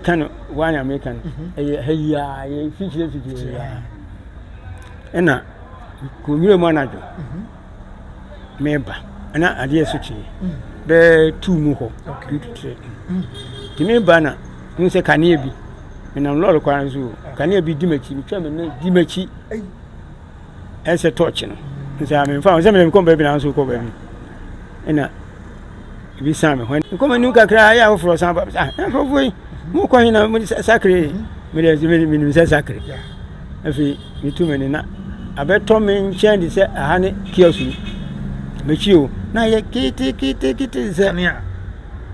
Ka no wanya meka no. Mhm. Ɛyɛ ha yi a yɛ fikyire fikyire ya. Ɛna ko nwura mu anadwo. Mhm. Meba. Ɛna adeɛ so kye. Mhm. Bɛ tu mu hɔ. Okay. Tumi ba na mu sɛ kanea bi. Menam lɔre kwan so. Kanea bi di m'akyi. Metwa me ne di m'akyi. ɛnsɛ tɔɔkye no nsɛ ame nfa ho sɛ mena mekɔ baabi na nso kɔ baabi ɛna ebi san me hɔ mekɔ m'anim kakra ayɛ afoforɔ san ba ah nkurɔfoɔ yi mokɔ he na mode sakre mede ɛsɛ mede menim sɛ sakre afei metu me ne na abɛtɔ me nkyɛn de sɛ aha ne kiɔso yi mɛkyi o na yɛ ketekete sɛ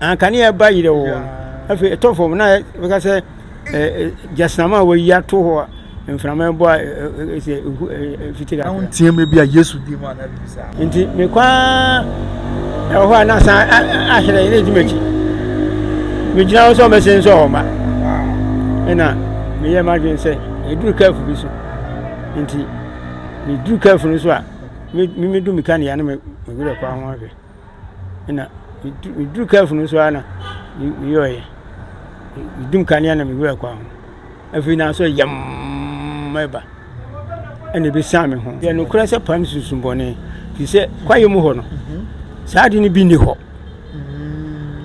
ankanea ɛba yerɛ wɔ afei ɛtɔ fam na bɛka sɛ gyasnama a wɔyi ato hɔ a mframa bɔ a ɛsɛ ehu fiti kakra. na nteɛ mu bi a yesu di mu a na bi saa. nti mekɔ ara ɛwɔ hɔ a na san ahyerɛ ne di m'akyi megyina hɔ sɛ ɔmɛsɛ nsɛ hɔ ma ɛna meyɛ m'adwene sɛ ɛduru kaafu bi so nti meduru kaafu no so a memedu meka ne ya no mewerɛ kɔ ho ahwɛ ɛna meduru kaafu no so a na meyɔɔyɛ medum kanea na mewerɛ kɔ ho Afei na asɔre yɛmm reba, ɛnna ebesian me ho. Yɛ nokorɛ sɛ pam sunsun bɔne, fi sɛ kwaeɛ mu hɔ no, saa ade no bi nni hɔ.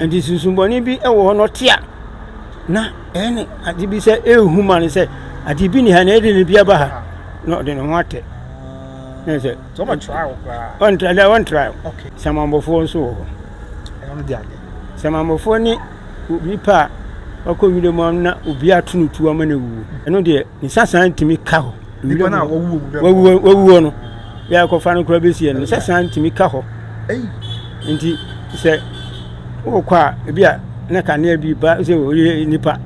Nti sunsun bɔne bi wɔ hɔ no ɔte a, na ɛyɛ ne ade bi sɛ ɛrehu ma no sɛ ade bi ni ha na ɛde ne bi aba ha na ɔde ne ho atɛ. Ne sɛ ɔntra dɛ ɔntra samanbɔfoɔ nso wɔ hɔ. Samanbɔfoɔ ne obi pɛ a, ɔkɔ nwura mu na obi ato no tuo ama no awuo. Ɛno deɛ, ne sasan ntumi ka hɔ. Nipa no a wawuo no, yɛ akɔfa no koraa bɛsi ɛno, ne sasan ntumi ka hɔ. Nti sɛ wokɔ a, ebi a na kanea bi ba sɛ ɔyɛ nipa.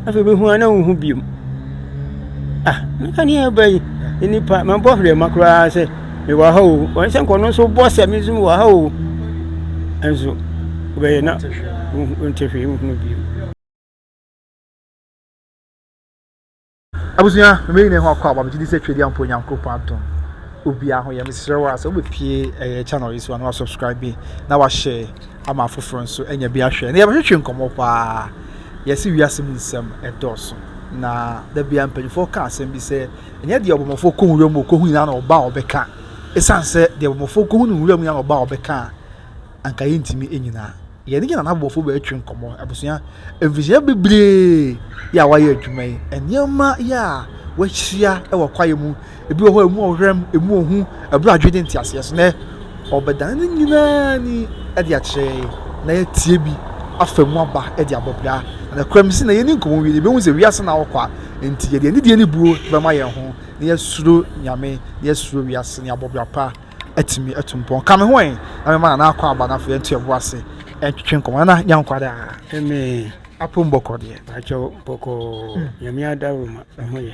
Afei bɛhu a na wohu biom. Ah, na kanea ba yi, nipa, mabɔ hwerɛ ma koraa sɛ mewɔ ha o wɔn sɛ nkɔno nso bɔ sɛ me nso mewɔ ha o nso wobɛyɛ na nte hwee nhunu bio abusua mmeyi ne ho akɔ aba megye di sɛ twɛdi ampo onyankopɔn adom obiara ho yɛ mesrɛ wo a sɛ wobɛpie ɛyɛ channel yi so a na wasubscribe bi na wahyɛ ama afoforɔ nso anya bi ahwɛ na yɛbɛhwehwe nkɔmmɔ paa yɛse wiase mu nsɛm ɛdɔɔso na da bia mpanyinfoɔ ka asɛm bi sɛ Ɛnyɛ deɛ ɔbɔmmɔfoɔ kɔ nwura mu ɔkɔhu nyinaa na ɔba a ɔbɛka. Ɛsiane sɛ deɛ ɔbɔmmɔfoɔ kɔhu no nwura mu nyinaa na ɔba a ɔbɛka a, anka yɛntumi nyinaa. Yɛn ne yɛn anabɔfoɔ bɛtwe nkɔmmɔ. Abusua, mfirihyia bebree yɛ a wɔayɛ adwuma yi, nneɛma yɛ a wɔahyia wɔ kwaeɛ mu, ebi wɔ hɔ a emu ɔhwɛm, emu ohu, ɛberɛ adwene ne nteaseɛ so. Nɛ, Ɔbɛdan ne nyinaa ani de akyerɛ yɛn na yɛatie bi afa mu aba de abɔ bra. Na nokorɛm se na yɛnni nkɔmmɔ wie no, yɛbɛhu sɛ wiase na ɔkɔ a, enti yɛde anidie ne buo bɛma yɛn ho na yɛasuro Nyame na yɛasuro wiase na yɛabɔ bra pa atumi atu mpɔn. Ka me ho ɛ, na mɛma Nana akɔ aba na afei yɛnto yɛn bo ase ntwetwe nkɔmmɔ. Nana, Nya nkwa daa. Amen. Apom bɔkɔ deɛ, pakyɛw bɔkɔɔ Nyame ada wo ma, ɛho yɛ.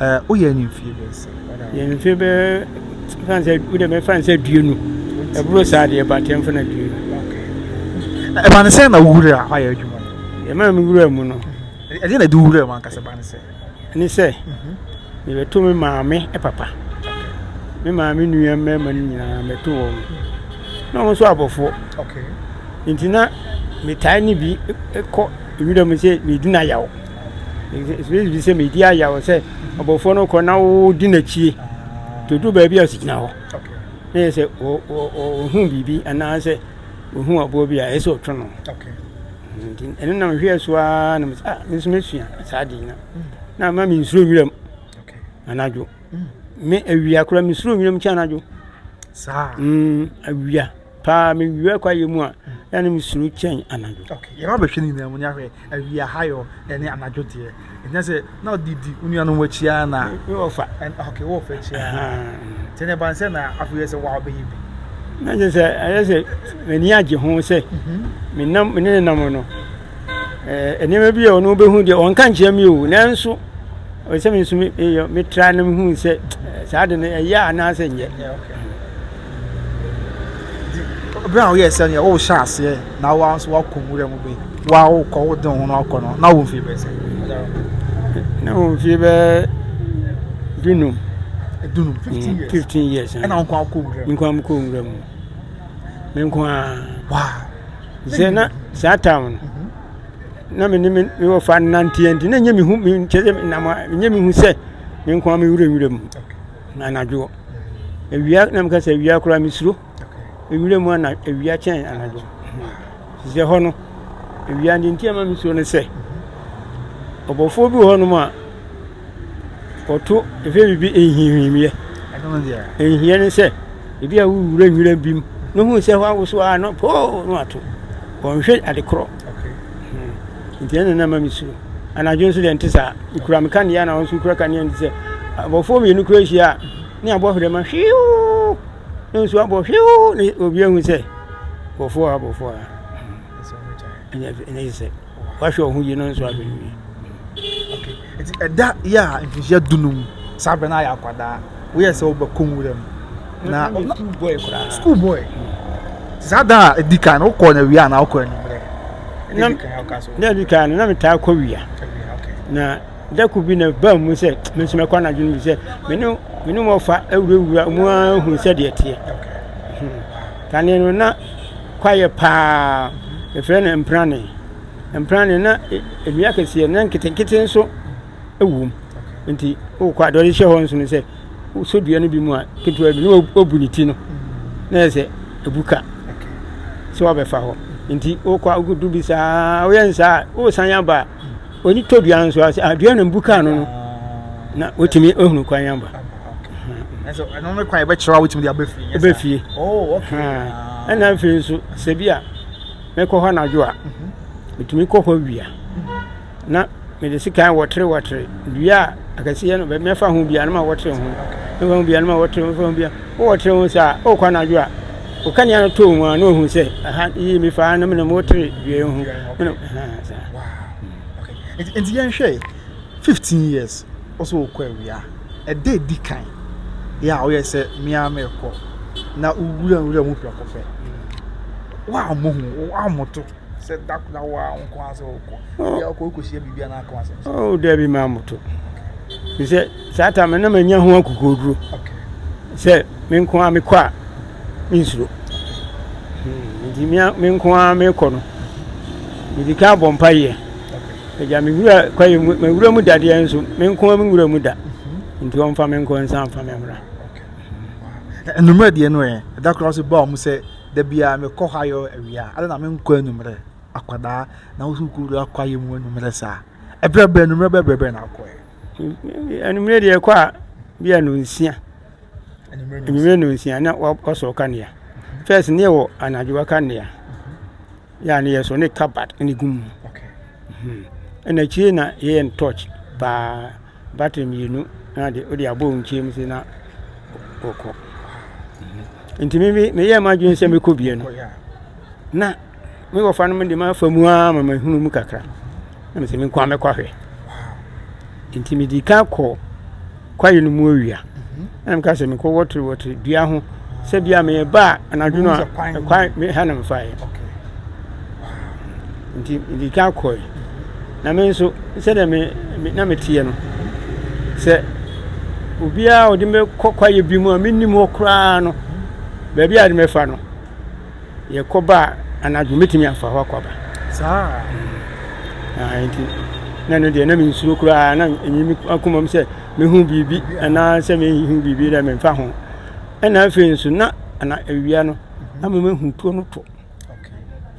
Ɛɛ wo yɛ ni mfie bɛyɛ sɛ. Yɛ ni mfie bɛyɛ fan sɛ wo dɛm fan sɛ due nu. Ɛburo saa deɛ ba tɛm fana due nu. Ɛma ne sɛ na wo wura hɔ ayɛ adwuma. Ɛma me wura mu no. Ɛdeɛ na ɛde wura mu ankasa ba ne sɛ. Ne sɛ mebɛto me maame papa. Me maame nua mmarima no nyinaa mɛto wɔn. Na wɔn nso abɔfoɔ. Nti na metaa ne bi kɔ ewira mu sɛ medi na yaw. Ɛtumi sɛ medi ayaw sɛ ɔbɔfoɔ no kɔ na wodi n'akyie nti odu baabi a ɔsigyina hɔ na yɛ sɛ ɔhu biribi anaasɛ ɔhu aboɔ bi a ɛyɛ sɛ ɔtwe no nti ɛno na mehwɛ so ara na mesɛ ah nso mɛsua saa de no na ama mensuro nwiram anadwo me awia koraa mesuro nwiram kyɛ anadwo saa awia paa me wia kwaeɛ mu a ɛna ne mesuro kyɛn anadwo yɛba bɛhwɛ no nyinaa mu ne ahwɛ awia hayɔ ɛne anadwo deɛ ɛnyɛ sɛ na ɔde di wo nuanom wakyiaa na wɔfa okay wɔfa kyiaa nti ne ban sɛ na afei sɛ wa wobɛyɛ bi na kyɛ sɛ ɛyɛ sɛ m'ani agye ho sɛ menam mene ne nam no nneɛma bi a ɔno wobɛhu deɛ ɔnka nkyerɛ me o nanso ɔsɛ me nso metra no mehu sɛ saa de no ɛyɛ anaasɛ nyɛ Bere a woyɛɛ sɛnea wohyɛɛ aseɛ na woa nso woakɔ nwura mu bɛyi woa wokɔ wode wo ho no akɔ no na wo mfie bɛsɛ na wo mfie bɛɛ dunum dunum mm, fifteen years ɛna nko akɔ nwura mu nko akɔ nwura mu me nko a waa sɛ na saa town no mhm. na me ne me wɔ fa nanteɛ nti na nyɛ me hu me nkyɛ sɛ nam nyɛ me hu sɛ me nko a me wura nwura mu anadwo awia na meka sɛ awia koraa mesuro nwura mu ana awia kyɛn anadwo sɛ hɔ no awia de nti ama mesuro no sɛ ɔbɔfoɔ bi wɔ hɔnom a ɔto ɛfɛ biribi ɛnhinhwimiɛ ɛnhiɛ ne sɛ ebi a wowura nwura bi mu na hu sɛ hɔ awoso a na poo no ato ɔnhwɛ ade korɔ Nti ɛno na ɛma mesuro. Anadwo nso deɛ ɛnte saa. Mekura me kanea na wɔn nso kura kanea nti sɛ abɔfoɔ mmienu kura ahyia a ne abɔ hwerɛma hwiiw na nsuo abɔ hwiiw na obi ahu sɛ abɔfoɔ a abɔfoɔ a ɛnyɛ sɛ wahwɛ wo ho yie na nso abɛnwie. Enti ɛda yɛ a mfirihyia dunum, saa berɛ no ayɛ akwadaa, woyɛɛ sɛ wobɛkɔ nwura mu. Na na school boy koraa. School boy. Saa da a ɛdi kan no wokɔɔ no awia anaa wokɔɔ anwummerɛ? Na na ɛdi kan no na metaa kɔ wia. Na da ko bi na baa mu sɛ me nso mɛkɔ anadwo no bi sɛ me ne me ne wɔfa awurawura mu ara hu sɛ deɛ teɛ. Hmm. Kane no na kwayɛ paa. Ɛfrɛ no mprane. mpena no na nnua kɛseɛ na nketenkete nso wom nti wokɔ a deɛ ɔde hyɛ hɔ nso no sɛ wosɔ dua no bi mu a ketewa bi na wabu ne ti no na yɛ sɛ ɛbu ka sɛ wabɛfa hɔ nti wokɔ a wodu bi saa woyɛ nsaa a wosan aba a ɔni tɔ dua no nso a sɛ adua ah, no mbu ka no no na wotumi ahunu kwan aba ɛnso ɛno no kwan ɛbɛkyerɛ a wotumi de abɛfie ɛbɛfie ɛna afei nso sɛ bi a Mekɔ hɔ anadwo a, metumi kɔ hɔ awia. Na mede sekan wɔtere wɔtere dua a akɛseɛ no baabi mɛfa ho bia no ma wɔtere ho mɛfa ho bia no ma wɔtere ho mɛfa ho bia wɔtere ho saa ɔkɔ anadwo a ɔkanea no too mu a na ɔhu sɛ aha yie mi faa na mene mo wɔtere dua yi ho mene nti yɛnhwɛ 15 years wo sɛ wokɔ awia. Ɛda a ɛdi kan yɛ a woyɛ sɛ me ara merekɔ na wowura nwura mu prɛko pɛ. Woammɔ hu, woammɔ to sɛ da koro na wo ara wo nko ara sɛ wokɔ. Oh. Yɛ wokɔ wokɔhyia biribi anaa ka w'asɛm sɛ. Oh, daabi maa mmɔ to. Ɛfiri sɛ saa ta me na manya ho akokoɔduro sɛ me nko ara mekɔ a mensuro. Hmm, nti me nko ara mekɔ no, medi ka abɔ mpaeɛ. Agya, me wura kwaeɛ mu, me wura mu dadeɛ nso, me nko me wura mu da. Nti ɔmfa me nkɔ nsa mfa me mmra. Anwummerɛ deɛ no ɛ, ɛda koraa so baa ɔmo sɛ, da biara mekɔ hɔ ayɔ awia, adɛ na me nkɔ anwummerɛ? Akwadaa, na wo so wokɔwura kwaeɛ mu anwummerɛ saa? Ɛberɛ bɛn, anwummerɛ bɛɛ berɛ bɛn na akɔɛ? Anwummerɛ deɛ ɛkɔ a, bi a nonsia. Anwummerɛ nonsia, na wasɔ ɔkanea. Fɛs ne ɛwɔ anadwo ɔkanea. Yeah, ne yɛ so ne cupboard ne gu mu. Okay. Hmm. Ɛna akyire na yɛyɛ no torch baa battery mmienu na de wode abɔ nkyɛn mu sɛ na wɔkɔ. Hmm. Nti me bi meyɛ ma adwene sɛ mekɔ bie no. Na me wɔfa no de ma fa mu ara ma mahunu mu kakra. Na mesɛ menkɔ a mɛkɔ ahwɛ. Nti medi kan kɔ kwaeɛ no mu awia ɛna meka sɛ mekɔ wɔtere wɔtere dua ho sɛ bia meyɛba a anadwo no a kwan ha na mefaeɛ nti mede ka kɔe na me nso sɛdeɛ me na meteɛ no sɛ obiara ɔde mɛkɔ kwaeɛ bi mu a menim hɔ koraa no baabi a de mɛfa no yɛkɔ ba a anadwo mɛtumi afa hɔ akɔ aba saa nti na ɛno deɛ na mensuro koraa na ɛnyi me akoma mu sɛ mehu biribi anaa sɛ mehu biribi dɛ memfa ho ɛna afei nso na ana awia no na memahu tuo no to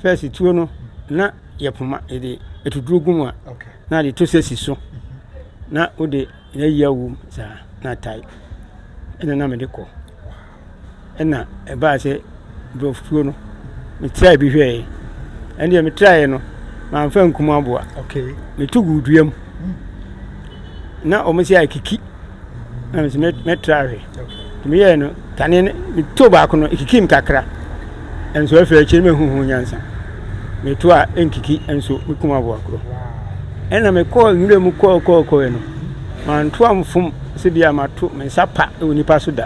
fɛs tuo no na yɛpoma yɛde ɛtuduro gu mu a na de to sɛ si so na wode na yia wom saa na tae ɛna na mede kɔ Ɛna ɛbaa sɛ nkurɔfokuo no me traa bi hwɛɛ ɛne deɛ me traeɛ no manfa nkum aboa meto gu dua mu na wɔn sɛ akiki na me sɛ mɛtra hwɛ nti meyɛɛ no kane no meto baako no ɛkiki m kakra ɛnso afei akyiri no mahu ho nyansa meto a ɛnkiki ɛnso mekum aboa korɔ ɛna mekɔɔ nwura mu kɔɔkɔɔkɔɛ no manto amfom sɛ bi a mato me nsa pa wɔ nipa so da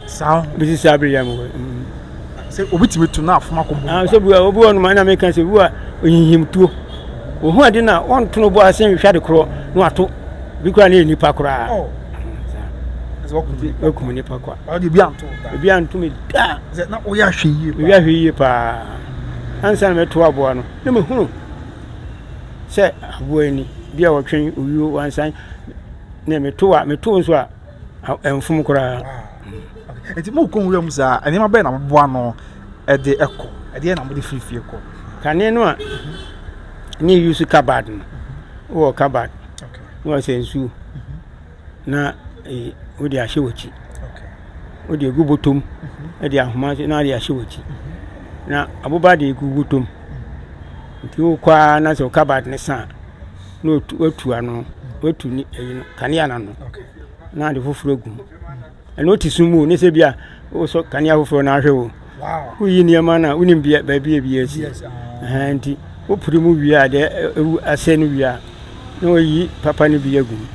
Saa. Bisi saa bere yɛ mo. Sɛ obi tumi to na afoma kɔ bɔ. Ah, sɛ bua obi wɔ no ma na meka sɛ bua onyihim tuo. Ohu ade na ɔnto no bɔ ase nhwɛ ade korɔ na wato. Bi kora ne nipa koraa. Oh. Okum nipa kwa. Ɔde bi anto. Bi anto me da. Sɛ na oyɛ ahwɛ yie. Bi ahwɛ yie paa. Ansa na meto aboa no. Na me hunu. Sɛ aboa ni bi a wɔtwe owuo wansan. Na meto a meto nso a ɛmfom koraa. Nti mo kɔ nwura mu saa, nneɛma bɛyɛ na mo boa no ɛde ɛkɔ, ɛdeɛ na mo de firi fie kɔ. Kane no a ne yi so kabad no, wɔ kabad na wɔsɛ nsuo na e, wode ahyɛ w'akyi, wode egu botom ɛde ahoma so na wode ahyɛ w'akyi na aboba de egu botom nti wokɔ ara na sɛ kabad ne saa. na otu watu ano watu ne ɛyi no kanea no ano na ade foforɔ agu mu ɛna ɔte sum mu ne sɛ bi a wosɔ kanea foforɔ no ahwɛ o woyi nneɛma no a wonim bia baabi a bi asi ah. nti wopere mu wie a deɛ ɛwu asɛ no wie a na wayi papa no bi agu mu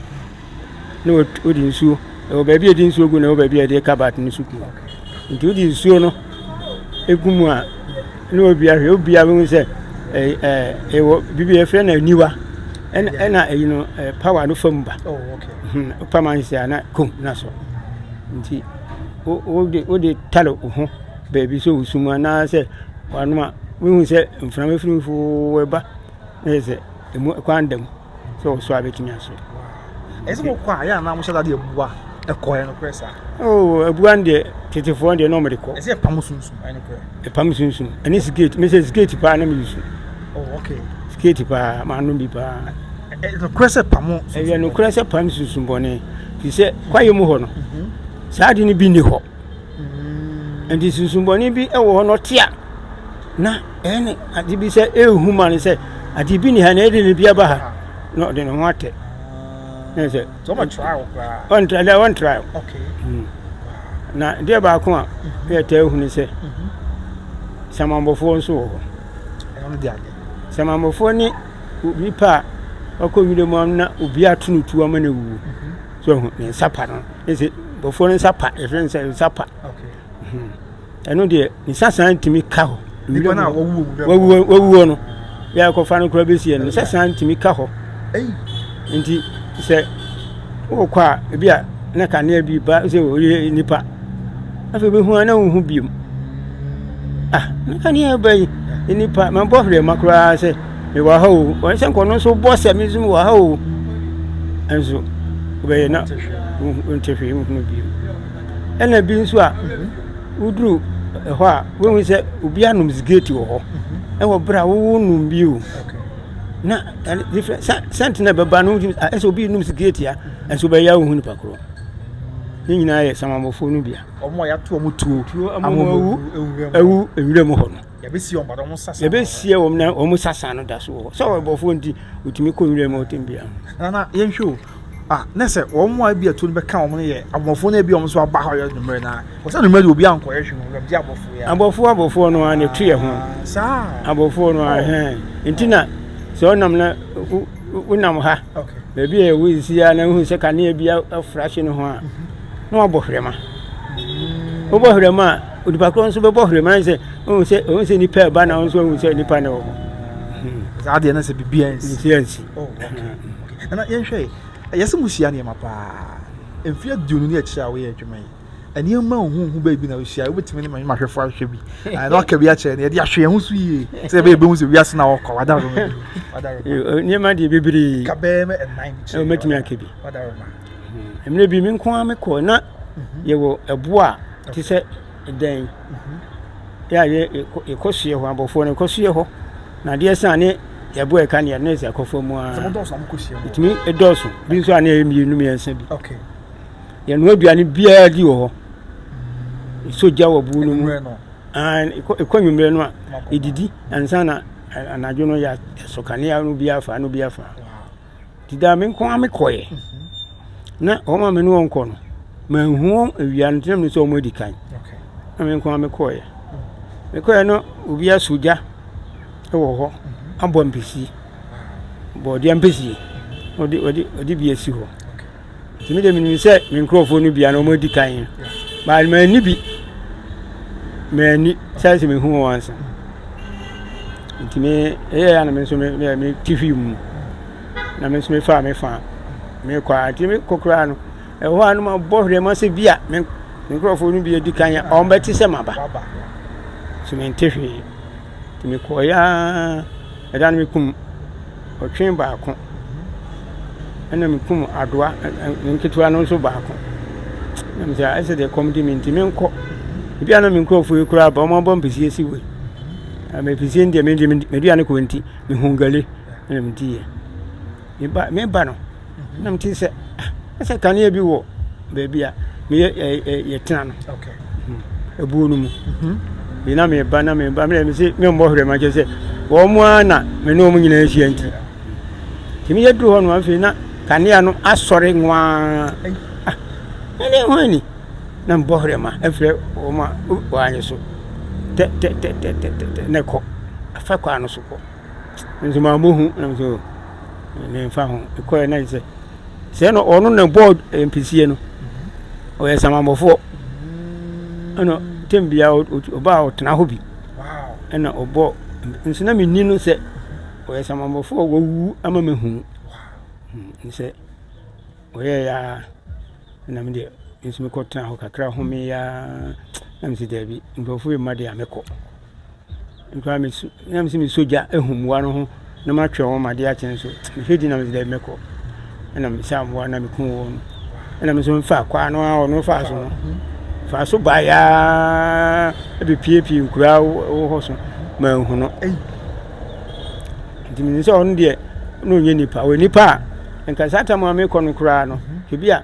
na wode nsuo ɛwɔ baabi a yɛde nsuo gu na ɛwɔ baabi a yɛde kabat no nso gu nti wode nsuo no egu mu a na obia hwɛ obia bɛhu sɛ ɛɛ ɛɛ ɛwɔ biribi yɛfrɛ no aniwa ɛna ɛna ɛyi no ɛɛ pawa no fam ba oh, hmm, pam ansi a na kom na so nti wode wode tare wo ho baabi sɛ wosum anaasɛ wanoma wohu sɛ mframa firimfo ɛba na yɛ sɛ ɛmu kwan da mu Sɛ ɔsɔ a bɛtumi asɔ. Ɛsɛ mo kɔ a yɛ anaa mo hyɛ dadeɛ bua ɛkɔ ɛno korɛ saa. Oo abua no deɛ tetefoɔ deɛ na ɔmo de kɔ. Ɛsɛ ɛpam sunsun ɛno korɛ. Ɛpam sunsun ɛne siketi mesɛ siketi paa na mi yusu. Oh okay. Siketi paa maa nom bi paa. Ɛno korɛ sɛ pam sunsun. Ɛyɛ no korɛ sɛ pam sunsun bɔne. Ti sɛ kwaye mu hɔ no. Mhm. Saa adi no bi ni hɔ. Nti nsusumbɔne bi wɔ hɔ na ɔte a na ɛyɛ ne ade bi sɛ ɛrehu ma no sɛ ade bi ni ha na ɛde ne bi aba ha na ɔde ne ho atɛ na sɛ ɔntra dɛ ɔntra hmm. na deɛ baako a mhm. yɛ taa hu ne sɛ mhm. samambɔfoɔ nso wɔ hɔ samambɔfoɔ ne obi pa a ɔkɔ nwura mu na obi ato no tuo ama no awuo mhm. so ehu ne nsa pa no ese nkurɔfoɔ no nsa pa yɛfrɛ no sɛ nsa pa hmm. ɛno deɛ ne nsa saa ntumi ka hɔ wawuo no yɛ akɔfa no koraa bɛsi ɛno ne nsa saa ntumi ka hɔ nti sɛ wokɔ a ebi a na kanea bi ba sɛ ɔyɛ nipa afei bɛhu a na wohu biom ah na kanea ba yi nipa mabɔ hwerɛ ma koraa sɛ mewɔ ha o wɔn sɛ nkɔno nso bɔ sɛ me nso mewɔ ha o nso wobɛyɛ na nte hwee nhunu bio ɛna bi nso a woduru ɛhɔ a wohu sɛ obi anom sigireti wɔ hɔ ɛwɔ berɛ a wowo nom bio na sɛnte na ɛbɛba no ɛsɛ obi nom sigireti a nso wobɛyɛ a wohu nipa korɔ ne nyinaa yɛ samamɔfoɔ no bia ɔmo a yɛato ɔmo tuo amomu awu nwura mu hɔ no Yɛbɛsie wɔn na wɔn sasan no da so wɔ hɔ. Sɛ ɔbɔfoɔ nti, ɔtumi kɔ nwura mu ɔtɛm biara. Nana yɛnhwɛ o. Ah, na sɛ wɔn a ebi atuo no bɛka wɔn no yɛ abɔfoɔ na ebi wɔn nso aba hɔ yɛ numere na wɔsɛ numere de obi ankɔ yɛ hwɛ no wɔn gye abɔfoɔ yɛ. Abɔfoɔ abɔfoɔ no ara na etu yɛ ho. Ah, saa. Abɔfoɔ no ara oh. hɛn. Nti na sɛ ɔnam na wonam ha. Okay. Baabi a ɛwɔ esi ya na wohu sɛ kanea bi afura hye no ho a. Mhm. Na wabɔ hwɛma. Mm. Wobɔ hwɛma a. Onipa korɔ nso bɛbɔ hwere mmerɛ sɛ ɔhu sɛ ɔhu sɛ nipa ɛba na ɔnso ɔhu sɛ nipa na ɛwɔ hɔ. Hmm. Saa deɛ na sɛ bibi ansi. Nsi ansi. Oh, hmm. Ɛna yɛnhwɛ ɛyɛ sɛ mo hyia nneɛma paa mfie aduonu ne akyire a woyɛ adwuma yi nneɛma ohuhu baabi na wohyia wobɛtumi ne manyɛ mahwɛfo ahwɛ bi na waka bi akyerɛ no yɛde ahwɛ yɛn ho so yie sɛ ɛbɛyɛ bɛhu sɛ wiase na wɔkɔ wadaroma bi eh, nneɛma deɛ bebree ka bɛɛ mɛ ɛnan bi kyerɛ wobɛtumi aka bi wadaroma mmerɛ bi me nko a mekɔ na mhm. yɛwɔ ɛboɔ a Te sɛ dɛn? Yɛ a yɛ yɛkɔ so yɛ hɔ abɔfoɔ no yɛkɔ so yɛ hɔ na adeɛ san ne yɛbo a ɛka ne yɛ ne sɛ akɔfoɔ mu a ɛtumi ɛdɔɔso bi nso a ne yɛ mmienu mmiɛnsa bi yɛnoa aduane biara di wɔ hɔ ɛsɔ gya wɔ buo no mu ɛkɔ nwummerɛ no a ɛdidi ansa na anadwo no yɛ ɛsɔ kanea no bi afa no bi afa Nti daa me nko ara me kɔeɛ. Na wɔn a me ne wɔn kɔ no, manhu wɔn awia no, nti na menim sɛ wɔn adi kan. Na me nko ara me kɔeɛ. Me kɔeɛ no, obi aso gya wɔ hɔ, abɔ ampesie, bɔɔdeɛ ampesie, ɔde ɔde ɔde bi asi hɔ. nti me deɛ menim sɛ me nkurɔfoɔ no bia na wɔn adi kan no but manni bi manni sɛ sɛ mehu wɔn ansa nti me ɛyɛ ya na me nso me me me ti hwi mu na me nso me fa me fa me kɔ a nti me kɔ koraa no ɛhɔ a no ma bɔ hwɛ ma sɛ bi a me nkurɔfoɔ no bi adi kan yɛ wɔn bɛte sɛ maba so me nte hwee nti me kɔ ya Ɛda no mekum ɔtwe baako, ɛna mekum adoa nketewa no nso baako. Na mesɛ ɛsɛ deɛ kɔm di me nti menkɔ. Ebi a na me nkurɔfoɔ yi koraa ba wɔn abɔ mpesie si wei. Mpesie deɛ mede meduane kɔ nti mehu gale ɛna mediiɛ. Meba no na mete sɛ ah, sɛ kanea bi wɔ baabi a meyɛ yɛtena no ɛbuo no mu bi na meba na meba mmerɛ me se memmɔ hwerɛ ma kyɛ sɛ wɔn mu ara na me ne wɔn nyinaa ahyia nti nti meyɛ duru hɔ no afei na kanea no asɔre nwaa ah, ɛne ho ani na mbɔ hwerɛ ma ɛfrɛ wɔn a wɔanye so tɛtɛtɛtɛtɛtɛ na ɛkɔ afa kwan no so kɔ nso maa mo hu nam so ne nfa ho kɔɛ na sɛ sɛ no ɔno na bɔɔ mpisie no ɔyɛ samamɔfoɔ ɛna tɛm bia ɔbaa ɔtena hɔ bi ɛna ɔbɔ nso na menni no sɛ ɔyɛ samamɔfoɔ wɔwu ama mahu hmm, sɛ ɔyɛ yaa na medeɛ nso mekɔtena hɔ kakra homeyaa na mese daabi nkurɔfoɔ yɛ mma deɛ a mekɔ Bi koraa me so na me sɛ me so gya ahu mmoa no ho na matwɛn wɔn ma adeɛ akye nso mehwɛ di na me sɛ dɛ mɛkɔ ɛna mesaa mmoa na meku wɔn ɛna me nso mfa kwaa no a ɔno faa so no faa so baeɛ ɛbɛpiepie nkuraa wɔ hɔ so manhu no ei nti menim sɛ ɔno deɛ na ɔnyɛ nipa ɔyɛ nipa a nka saa tam a mekɔ no koraa no ebi a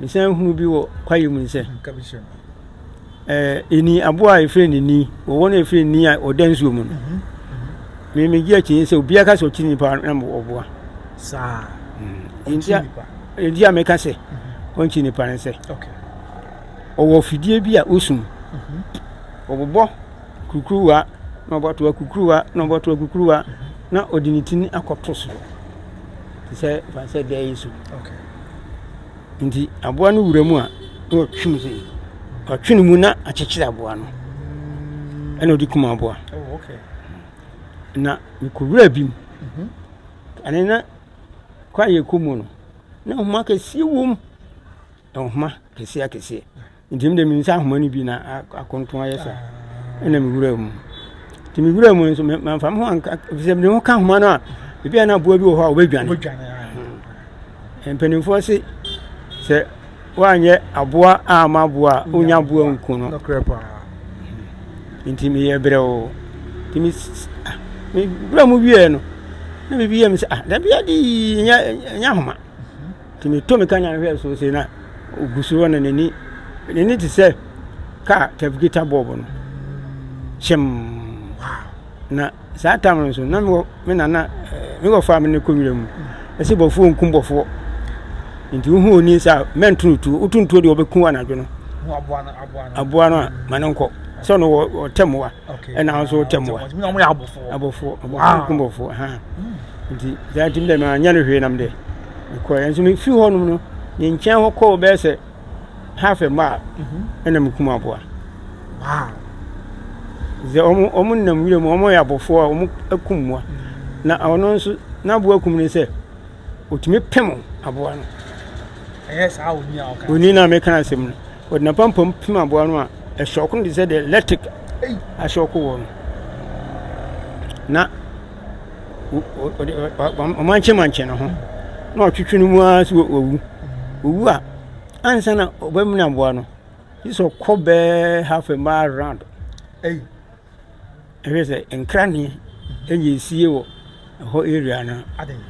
Mesan nhunuu bi wɔ kwaeɛ mu nsɛ. Ɛni eh, aboa a yɛfrɛ no ni wɔ wɔn a yɛfrɛ ni a ɔda nsuo mu no mhm, mhm. me megye akyi sɛ obiara ka sɛ ɔkyi nipa na ɔboa saa mm. ɛnti a meka sɛ mhm. ɔnkyi nipa no sɛ ɔwɔ fidie bi a ɔsum ɔbobɔ kukuruwa na ɔbɔtoa kukuruwa na ɔbɔtoa kukuruwa na ɔde ne tini akɔto soro te sɛ fa no sɛ dɛ yi so nti aboa no wura mu a na ɔtwe mu sɛ ɔtwe ne mu na akyekyere aboa no ɛna ɔde kum aboa oh, na mekɔwura bi mu mhm. ɛne na kwa yɛ kɔ mu no na nhoma kɛseɛ wom nhoma kɛseɛ akɛseɛ Nti mede me nsa ahoma no bi na akonto ayɛ sa ɛna mewura mu nti mewura mu nso mamfa me ho anka sɛ mede ho ka ahoma no a ebi a na aboa bi wɔ hɔ a wɔbɛdwane hmm. mpanimfoɔ se sɛ woanyɛ aboa a ama aboa a wonya aboa nku no nti meyɛ berɛ o nti mewura mu wieɛ no na biribi yɛ me sɛ ah dabi ade nyɛ ahoma Nti metɔ me kanyan hwɛ so sɛ na ɔgu so hɔ na n'ani n'ani te sɛ kaa tɛfgita bɔɔbo no kyɛm na saa tam no nso na mewɔ me nana eh, mewɔ fa me ne kɔ nwura mu ɛsɛ bɔfoɔ nkum bɔfoɔ nti wohu oni sɛ mɛntonotuo wotontuo deɛ wɔbɛku anadwo no aboa no a ma no nkɔ sɛ ɔno wɔtɛ mmoa ɛna ahosuo wɔ tɛm wa ɛna wɔyɛ abɔfoɔ abɔfoɔ abɔfoɔ kum bɔfoɔ ɛhan nti saa nti dɛ maa nyɛ no hwee nam dɛ mekɔ yɛn nso mefiri hɔ nom no ne nkyɛn hɔ kɔɔ bɛyɛ sɛ half a mile ɛna mekum aboa sɛ wɔn wɔn nam wura mu wɔn yɛ abɔfoɔ a wɔn akum mmoa na ɔno nso n'aboa kum ne sɛ. Otumi pem aboa no. Ɛyɛ saa wɔ ni a ɔka. Wɔ ni na meka asɛm no. Wɔde n'apampam pem aboa no a ɛhyɔko no te sɛ deɛ electric ahyɔko wɔ no. Na ɔmankyɛmankyɛ ne ho na ɔtwetwe no mu ara so wɔwu. Wɔwu a ansa na ɔbɛmene aboa no, gye sɛ ɔkɔ bɛɛ half a mile round. Hey. Ɛhwɛ sɛ nkra ne ɛnyɛ nsie wɔ ɛhɔ area no. Adɛn?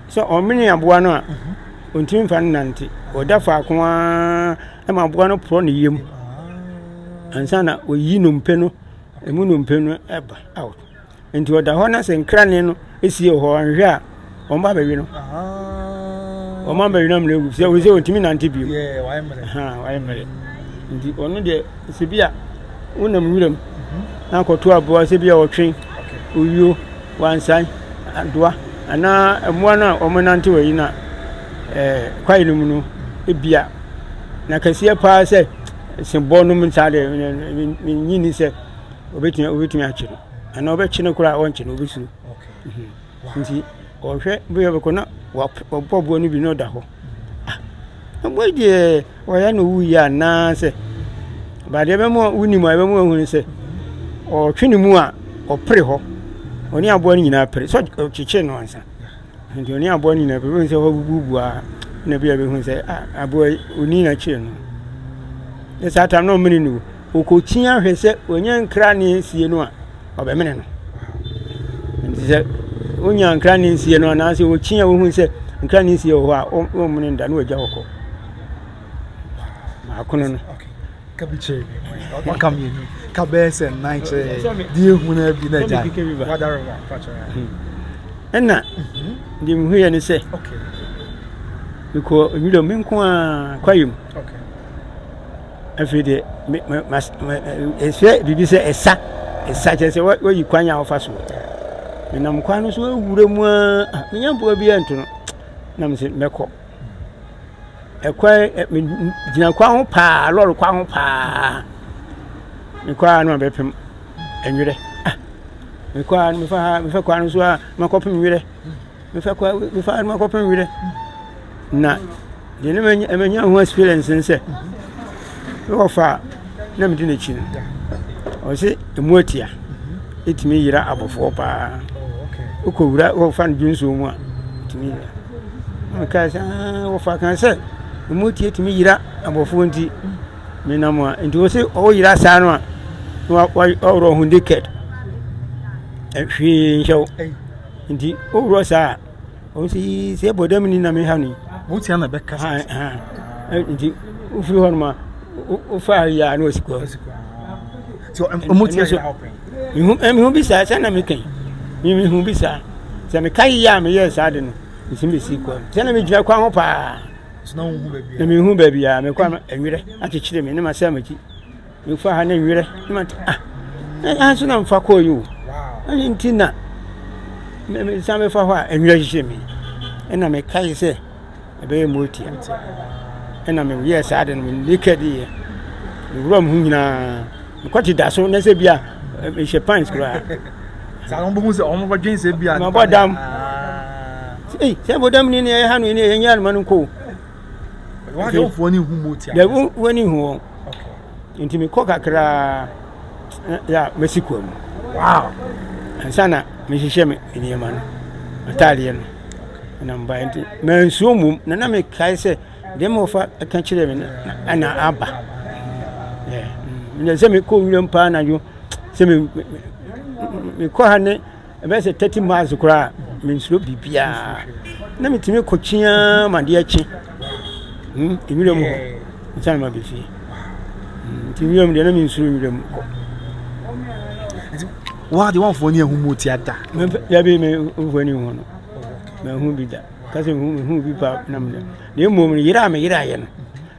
Sɛ ɔmene aboa no a, ɔntumi mfa no nante. Ɔda faako ara ɛma aboa no porɔ ne yam ansa na ɔyi nnompe no, ɛmu nnompe no ɛba out. Nti ɔda hɔ na sɛ nkra ne no sie wɔ hɔ anhwɛ a, wɔn ba bɛwe no wɔn ba bɛwe no amuna egu sɛ wɔsɛ wɔntumi nante bio wayɛ mmerɛ nti ɔno deɛ sɛ bi a wonam wuram mhm. na akɔto aboa sɛ bi a ɔtwe owuo wansan adoa anaa mmoa no a wɔnante wɔ yi na eh, kwae no mu no ebia na kɛseɛ paa sɛ sembɔ nom nsa deɛ menyi ni sɛ obɛtumi obɛtumi akye no anaa ɔbɛkye no koraa ɔnkye no obɛsuro Nti ɔhwɛ bi a ɔbɛkɔ na wapɔ aboa no bi na ɔda hɔ. Ah, aboa yi deɛ ɔyɛ na ɔwu yie anaasɛ baadeɛ ɛbɛma wonim a ɛbɛma wohunu sɛ ɔtwe ne mu a ɔpere hɔ ɔne aboa no nyinaa pere sɛ ɔkyekyere no ansa nti ɔne aboa no nyinaa pere bɛhu sɛ ɔbububu a na bi a bɛhu sɛ ah, aboa yi ɔni na kyerɛ no ne saa tam na ɔmene no ɔkɔkyi ahwɛ sɛ ɔnyɛ nkra ne sie no a ɔbɛmene no. Nti sɛ wonya nkra ne nsie no anaasɛ wɔkyi a wohu sɛ nkra ne nsie wɔ hɔ a wɔmmene no da na wɔagya wɔkɔ maakono no ka bi kyerɛ bi waka mmienu ka bɛyɛ sɛ nnan kyerɛ deɛ ɛhu no bi na agya ɛna deɛ mehuiɛ ne sɛ mekɔ nwuram me nko a kwayɛ mu Afei deɛ me ma ma ɛsɛ biribi sɛ ɛsa ɛsa kyerɛ sɛ wayi kwan a wɔfa so menam kwan no so awura mu a ah, menya mpoa bi anto no na mesɛ mɛkɔ ɛkwan gyina kwan ho paa lɔre kwan ho paa mekɔ a na mabɛpem ɛnwerɛ ah, mekɔ a mefa kwan no so a makɔpem nwerɛ Mefɛ kɔ mefa no makɔpɛ nwerɛ na deɛ ne manya ho experience ne sɛ ne wɔfa a na medi n'akyi no ɔse ɛmu atia ɛtumi yera abɔfoɔ paa wokɔwura wɔfa no dwonsuo mu a ɛtumi yera mekae sɛ wɔfa ka sɛ ɛmu atia ɛtumi yera abɔfoɔ nti menam a nti wɔ se ɔwoyera saa no a na wɔworɔ ho naked hwee nhyɛ wo Nti wowura saa a ɔno sɛ yii sɛ ɛbɔ dam ni na meha no yi wotia na bɛka nti wofiri hɔ nom a wofa yɛ a na wasi kɔ mehu bi saa sɛ na meka yi mehu bi saa sɛ meka yɛ a meyɛɛ saa de no nti mesi kɔ sɛ na megyina kwan ho paa na mehu baabi a mekɔ ɛwerɛ akyekyere me ne masɛ makyi mefa ha ne nwerɛ ne ma ah ɛha nso na mefa kɔɔ yi o ɛne nti na mesan bɛfa hɔ a nwerɛ hyehyɛ me ɛna mekae sɛ ɛbɛyɛ motia ɛna meyɛɛ saa de no menekɛ de yɛ mewura m ho nyinaa mekɔte da so na sɛ bia mehyɛ pants koraa mabɔ dam sɛ bodam ni ne ɛyɛ ha no ɛyɛ nyɛ anoma no nkɔ Why don't one who move to? There one who won. Okay. Nti me kɔ kakra ya mesi kwa mu. Wow. Ansa na me hyehyɛ me nneɛma no. Ataadeɛ no. Na mbae nti mansuo mmom na na mekae sɛ deɛ ma wɔfa ka kyerɛ me na aba. Yeah. Mm. Sɛ mekɔ nwuram paa anadwo sɛ mekɔ ha ne Ɛbɛyɛ sɛ thirty miles koraa a, mensuro biribiara. Na metumi kɔ kyi ara ma adeɛ kye. Hmm, nwura mu hɔ, nsa na ma bɛ fie. Hmm, nti nwura mu deɛ na mensuro nwura mu kɔ. Waa de wɔmfoɔ ne ahumu ti ada. Dabi me mfoɔ ne hu no. Mahu bi da. Kasi mehu bi pa nam da. Na mmom yere a meyere ayɛ no.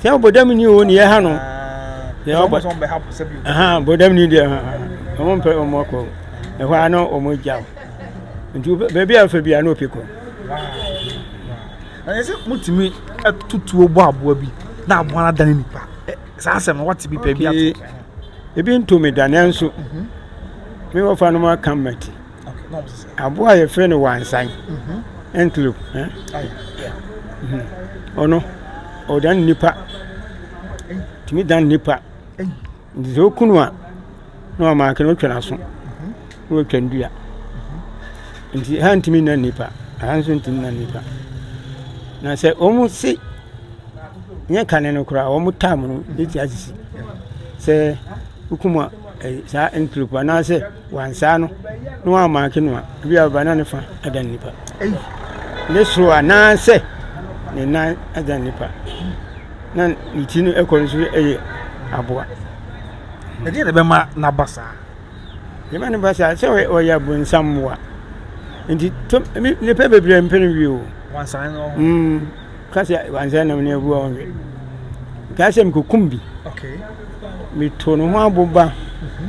Sɛ ɔbɔdam ni o ne yɛ ha no. Sɛ ɔbɔ sɛ ɔbɛ ha po sɛ bi. Ɛhɛn bɔdam ni deɛ ɛhɛn wɔn mpɛ wɔn akɔ ɛhɔ a na wɔn gya o nti baabi a ɔfɛ bi a na ɔpɛ kɔ. Na yɛ sɛ mutumi tutuo bɔ aboa bi na aboa no adane nipa saa asɛm no wate bi pɛ bi ato. Ebi ntomi da nanso mhm. me wɔfa no mu aka mmati. Aboa a yɛfrɛ no wansan, antelope, ɔno ɔdan nnipa, tumi dan nnipa. Nti sɛ woku no a, na ɔmanke no wotwa n'aso, na watwa ne dua. Nti ɛha ntumi nna nnipa, ɛha nso ntumi nna nnipa. Na sɛ wɔse nyɛ kane no koraa, wɔn tam no bɛtumi asisi sɛ wokum a saa antelope anaasɛ. Wansaa no na wammaake no a, ebia ɔba na ne fa adan nipa, ne soro anaasɛ ne nan adan nipa, na ne ti no kɔ no so yɛ aboa. Ɛdeɛ na ɛbɛma n'aba saa? Ɛbɛma ne ba saa sɛ ɔyɛ abonsam mmoa. Nti nipa bebree mpɛ no wie o. Wansan no. Mm. Ka sɛ wansan nam ne abu a ɔnwɛ. Kaa sɛ mekokum bi. Okay. Meto ne ho aboba. Mm -hmm.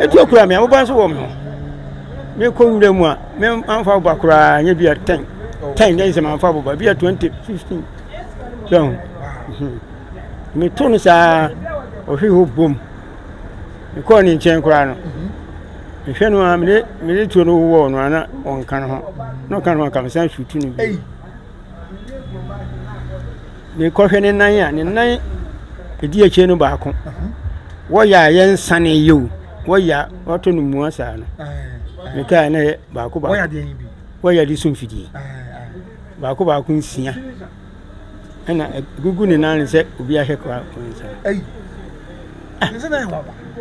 ɛti akura me aboba nso wɔ me ho mekɔ nwura mu a mamfa aboba koraa nyɛ bia 10 10 na sɛ mamfa aboba bia 20 15 sɛ ho meto no saa ɔhwe hɔ bom mekɔɔ ne nkyɛn koraa no mehwɛ no a mede tuo no wowɔɔ no ana ɔnka no ho na ɔka no ho anka mesan sutu no bi mekɔhwɛ ne nan a ne nan ɛdi akyire no baako wɔyɛ a yɛ nsane yɛ o wɔyɛ a wɔtɔ no mua saa no mekaa na yɛ baako baako wɔyɛ de so mfidie baako baako nsia ɛna gugu ne nan sɛ obi ahwɛ kɔ nsa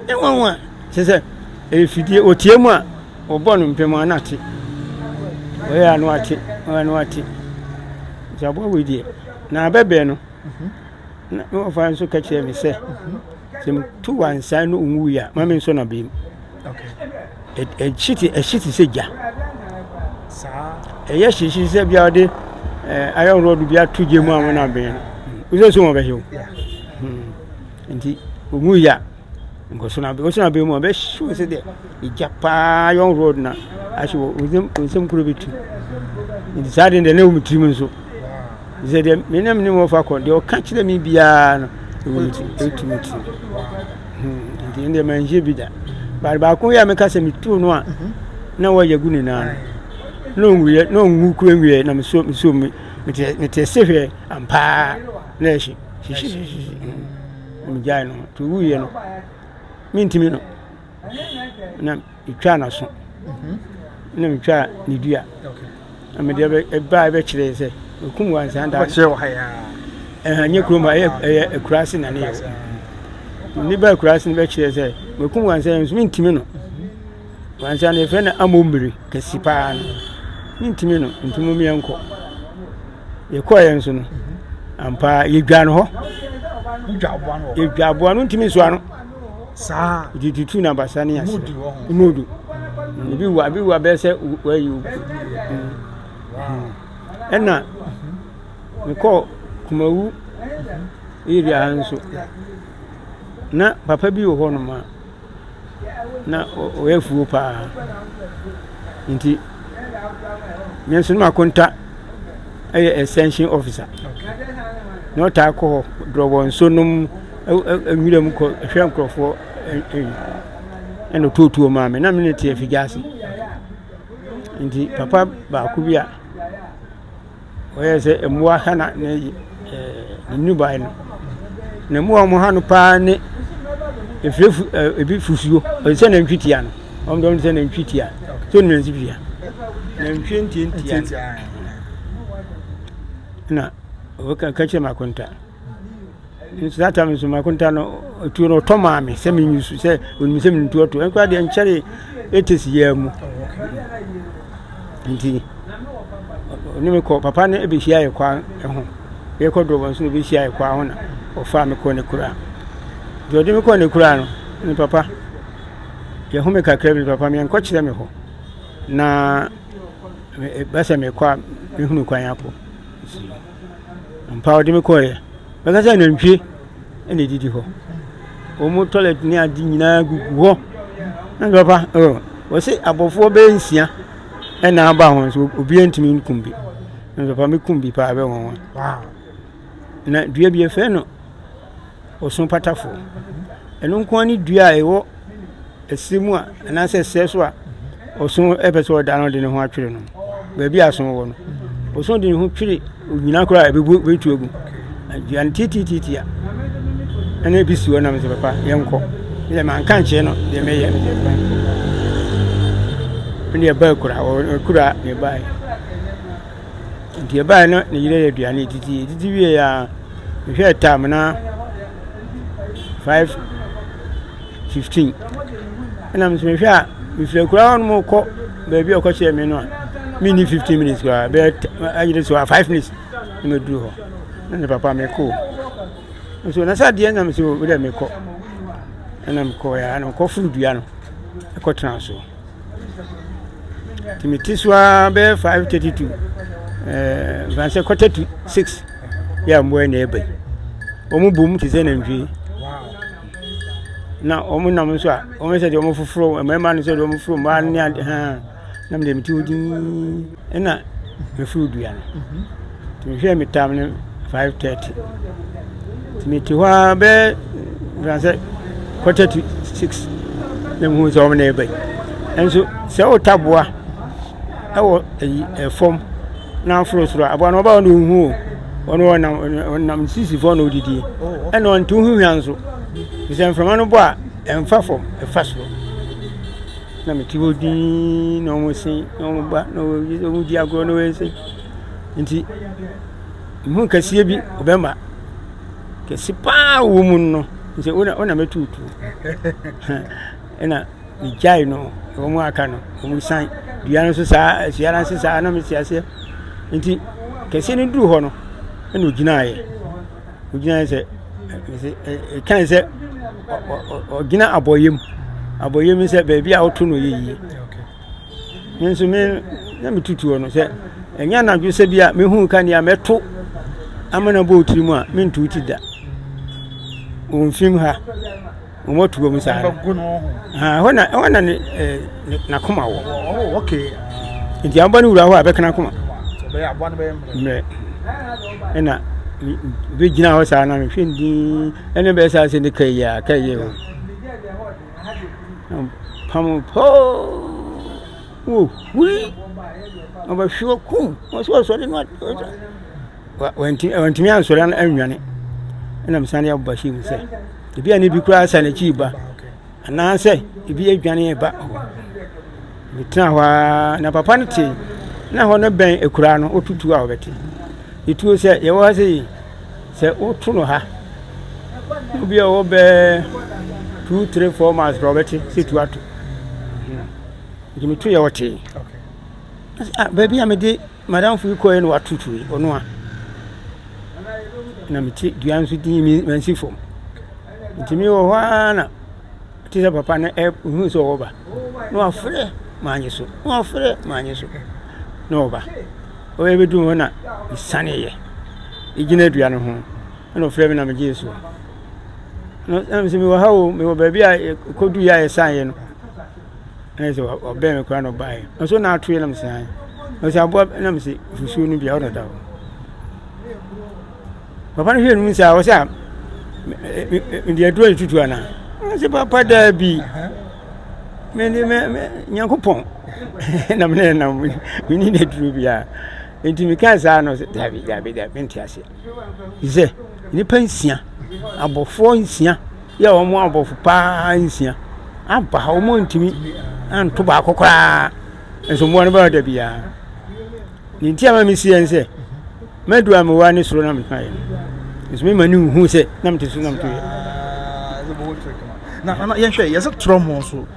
ɛwanwa sɛ sɛ ɛfidie ɔtie mu a Wɔbɔ no mpem a na ate. Wɔyɛ a na wate, wɔyɛ a na wate. Nti aboa wei deɛ, na abɛbrɛ no, na na wɔfa nso ka kyerɛ me sɛ, sɛ metu wansan no nwui a, ma me nso na bem. Ɛhye te ɛhye te sɛ gya. Ɛyɛ hyehye sɛ bia wɔde ayɔn rɔd bi ato gya mu a wɔn abɛn no. Wosɛ so wɔn bɛhyew. Nti nwui a Bosona aben bosona aben mu a ɔbɛhye wo sɛ deɛ egya paa yɔn road na ahye wo nsɛm nsɛm kuro bɛtu nti saa deɛ deɛ na ɛwɔ me tirim nso sɛ deɛ me na me ne wɔfa kɔ deɛ ɔka kyerɛ me biara no ɛwɔ me tirim ɛtu me tirim hmm, nti ɛndeɛ manhyɛ bi da baade baako yɛ a meka sɛ metuo no a mhm. na wɔyɛ gu nyinaa na ɔnwuiɛ na ɔnwu kuro nwiɛ na mesuo mesuo me mete ɛse hwɛ ampaa na ɛhye hyehyehyehye na megyae no nti ɔwuiɛ no mentimi no na metwaa n'aso mhm. na metwaa ne dua na mede ɛbaa ɛbɛkyerɛɛ sɛ ɛkum wɔ ansa da ɛhanyɛ kurom ha ɛyɛ akuraase na ne yɛwɔ ne ba akuraase no bɛkyerɛɛ sɛ makum wɔ ansa yɛ nso mentimi no Ansa no yɛfrɛ no amommire kɛse paa no, mentumi no, nti mom yɛnkɔ. Yɛkɔeɛ nso no, ampa yɛdwa no hɔ. Yɛdwa aboa no ntumi nsoa no. Saa. Nti tutu na basa ne ase. Mudu. Ebi wa, ebi wa bɛyɛ sɛ wayi o. Ɛna mekɔ Kumawu area ha nso. Na papa bi wɔ hɔ nom a na ɔyɛ afuo paa nti me nso na makonta yɛ extension officer na ɔtaa kɔ hɔ dorɔbɔ nsuo nom nwura mu kɔ hwɛ nkurɔfoɔ ɛna ɔtuotuo maa me na me ne te afigya ase nti papa baako bi a ɔyɛ sɛ mmoa ha na ne nnubaa no. Na mmoa a wɔha no paa ne efufu ɛ ebi fufuo. Ɔte sɛ nantwi tia no. Wɔn deɛ wɔn te sɛ nantwi tia. So ne nantwi tia. Nantwi ntiantia no. Na ɔbɛka ka kyerɛ ma akonta. nso that time nso makonta no tuo no ɔtɔ maa me sɛ menyi so sɛ ɔnim sɛ menim tuo to ɛnkora deɛ nkyɛre ɛtɛsi yɛ mu nti ɔne me kɔ papa no ɛbɛhyia yɛ kwa ho yɛkɔ dɔbɔ nso na ɔbɛhyia yɛ kwa ho na ɔfaa me kɔ ne kura deɛ ɔde me kɔ ne kura no ne papa yɛho me kakra bi papa meɛnkɔ kyerɛ me hɔ na bɛsɛ mekɔ a mehunu kwan akɔ Ampa, ɔde me kɔeɛ. Bɛka sɛ nantwie na ɛdidi hɔ. Wɔn toilet ne ade nyinaa gugu hɔ. Na nso papa, oh, wɔse abɔfoɔ bɛyɛ nsia ɛna aba ho nso obiara ntumi nkum bi. Na nso papa, mekum bi paa bɛ wɔn wɔn. Wow. Na dua bi yɛfrɛ no ɔsono patafoɔ. Ɛno nko ara ne dua a ɛwɔ ɛsɛ mu a anaasɛ ɛsɛ so a ɔsono pɛ sɛ ɔda no de ne ho atwere no baabi a asono wɔ no ɔsono de ne ho twere onyina koraa a ɛbɛbu bɛtu agu dua no titititi a ɛna ebi si hɔ nam sɛ papa yɛnkɔ deɛ manka nkyerɛ no deɛ mɛyɛ no deɛ fa ɛne ɛbaa kura kura ne baeɛ Nti ɛbaeɛ no na ne yere reyɛ aduane redidi. Ɛdidi wieeɛ a, mehwɛɛ time no a, five fifteen. Ɛna me nso mehwɛ a, mefiri akuraa hɔ nom rekɔ baabi a ɔkɔkyerɛɛ me no a, menni fifteen minutes koraa, bɛyɛ ayɛ dɛ sɛ ɔyɛ five minutes na maduru hɔ. Na ne papa mekɔ o. Nso na sɛ adeɛ na me sɛ o wodɛ mekɔ. Ɛna mekɔeɛ a, ɛna mekɔforo dua no kɔtenaa so. Nti mete so ara bɛyɛ five thirty to ɛɛ nkansɛ quarter to six yɛ a mmoa yi na ɛreba yi. Wɔn bom te sɛ nantwie. Na wɔn nam nso a, wɔn ayɛ sɛ deɛ wɔfoforo mmarima no sɛ deɛ wɔfoforo mmaa no ne ade haa na me deɛ mete hɔ dinn. nna mefuw dua no. Ntsi mohwɛɛ me tam no five thirty. Ntsi metse hɔ ara bɛyɛ mbrɛ anaasɛ quarter to six na muhun dɛ ɔman yi reba yi. Naaso sɛ wo tabowa wɔ eyi famu na aforo sor a, abowa no ɔba hɔ no onnhu wo. Ɔno ɔnam ɔnam ne sisi fɔw na odzidzi. Nna ɔnntse wo ho hwia so. Sɛ mframa no bɔ a, mmfa famu, fa sor. Na mete hɔ dinn na wɔse na wɔba na wɔdi agorɔ na wɔyɛ sɛ nti mehu kɛseɛ bi ɔbɛma kɛse paa wɔ mu no sɛ wona wona mɛtuutu ɛna megyae no wɔn aka no wɔn san dua no so saa asua no ase saa na mete aseɛ nti kɛseɛ no duru hɔ no ɛna ɔgyinaeɛ ogyina sɛ ɛkae sɛ ɔgyina abɔyɛ mu abɔyɛ mu sɛ baabi a ɔto no yɛ yie me nso me na metutuo no sɛ ɛnyɛ anadwo sɛ bi a mehu ka nea mɛto ama no bɔɔ tiri mu a mentu ti da wɔmfim ha wɔn atu wɔn saa no ɛhɔ na ɛhɔ na ne ne n'akoma wɔ nti aboa no wura hɔ a bɛka n'akoma mmerɛ ɛna bi gyina hɔ saa na mehwɛ ndin ɛne bɛyɛ saa sɛ ne ka yi a ka yi o pam poo wo hui ɔbɛhwe wɔ kum ɔsɛ ɔsɔre no ɔsɔre wantumi ansɔre annwane ɛna mesan de aba hyɛ mu sɛ ebi a ne bi koraa sa n'akyi ba anaasɛ ebi adwane ba metena hɔ ara na papa no te na hɔ no bɛn akuraa no wotutu a wɔbɛte ɛtuo sɛ yɛwɔ ha sɛ sɛ woto no ha obi a ɔwɔ bɛɛ two three four miles kora wɔbɛte sɛ tu ato nti meto yɛ wɔtee baabi a mede Madamfo yi kɔe na wato tuo yi, ɔno a na mete dua nso ti mi mansi fam. Nti mi wɔ hɔ ara na te sɛ papa no ɛhu sɛ ɔwɔ ba na wafrɛ maanye so na wafrɛ maanye so na ɔba. Ɔyɛ bɛdu hɔ na mesaneeɛ gyina dua no ho na ɔfrɛ me na megyee so. Na sɛ mewɔ ha o mewɔ baabi a ɛkɔdu yɛ a yɛsaneeɛ no Ɛna sɛ ɔbɛn me koraa na ɔbaeɛ. Ɔsɛ ɔna ato yɛ na mesɛ ae. Ɔsɛ aboa na mesɛ fusuo no bia ɔna da hɔ. Papa no hwɛ no mu sɛ ɔsɛ a mede aduro tutu anaa. Ɔsɛ papa daa bi. Mede me me Nyankopɔn na mene nam mene na aduro biara. Nti mekaa saa no sɛ dabi dabi dabi mente aseɛ. Sɛ nipa nsia abɔfoɔ nsia yɛ wɔn abɔfo paa nsia aba ha wɔn ntumi nto baako koraa nso mmoa no bɛba da biara ne nti ama mesi yɛn sɛ madu a mewa ne soro na metena yɛ nso mema ne nhu sɛ na mete so na meto yɛ na yɛhwɛ yɛsɛ torɔ mo so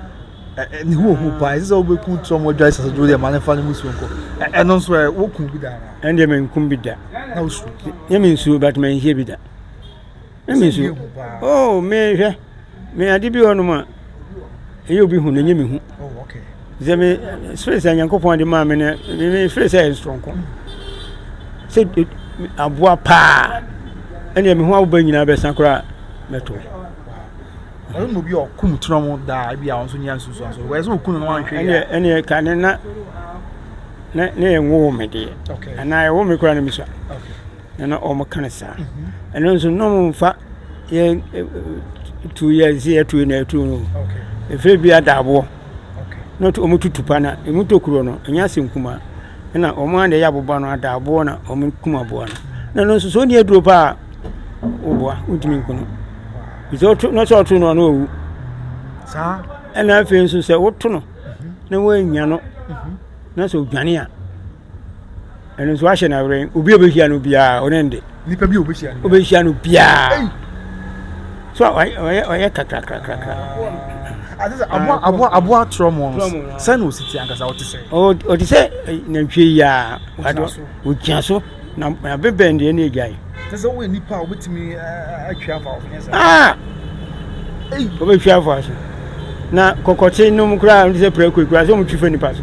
ne ho ohu paa ɛsɛ sɛ wobɛku torɔ mo adwa sɛ sɛ dwo deɛ ma ne fa no mu suo nkɔ ɛno nso ɛ woku bi da ɛndeɛ menkum bi da na wosuo yɛ mensuo but manhie bi da na me nsu oh me hwɛ me ade bi hɔ nom a ɛyɛ obi hu na ɛnyɛ me hu oh, sɛ me spirit sɛ nyankopɔn ade maa me no me spirit sɛ ɛyɛ nsoronko sɛ aboa paa ɛneɛ me ho awoba nyinaa bɛsa koraa mɛto ɔno na obi a ɔkum tena mu daa bi a ɔno nso nya nsusuan so wɔyɛ sɛ ɔku no no anhwɛ yɛ ɛneɛ ka ne na na yɛ nwowo me deɛ anaa ɛwo me koraa no mesua na na wɔka no saa ɛno nso na wɔmfa yɛ tu yɛ nsi yɛ tu na ɛtu no ɛfiri bi adaaboɔ na wɔn tutu pa na ɛmu tokuro no ɛnyɛ ase nkuma ɛna wɔn a na ɛyɛ aboba no adaaboɔ na wɔn kuma aboa no na ɛno nso so wɔn ni aduro paa wɔboa wɔntumi nko no bisɛ ɔto na sɛ ɔto no ɔno ɔwu saa ɛna afei nso sɛ woto no na wɔanya no na sɛ ɔdwane a ɛno nso ahyɛ no awerɛn obi a ɔbɛhyia no biara ɔne nde nipa bi a ɔbɛhyia no biara so ɔyɛ kakrakrakrakra aboa torɔ mu no sɛ na ɔsiti ankasa ɔte sɛ ɔte sɛ nantwie yi a ɔgyina so na bɛbɛn deɛ ne agyae sɛ sɛ woyɛ nipa a wobɛtumi atwi afa wo wobɛtwi afa so na kɔkɔte nom koraa sɛ prɛko koraa sɛ ɔmotwi fa nipa so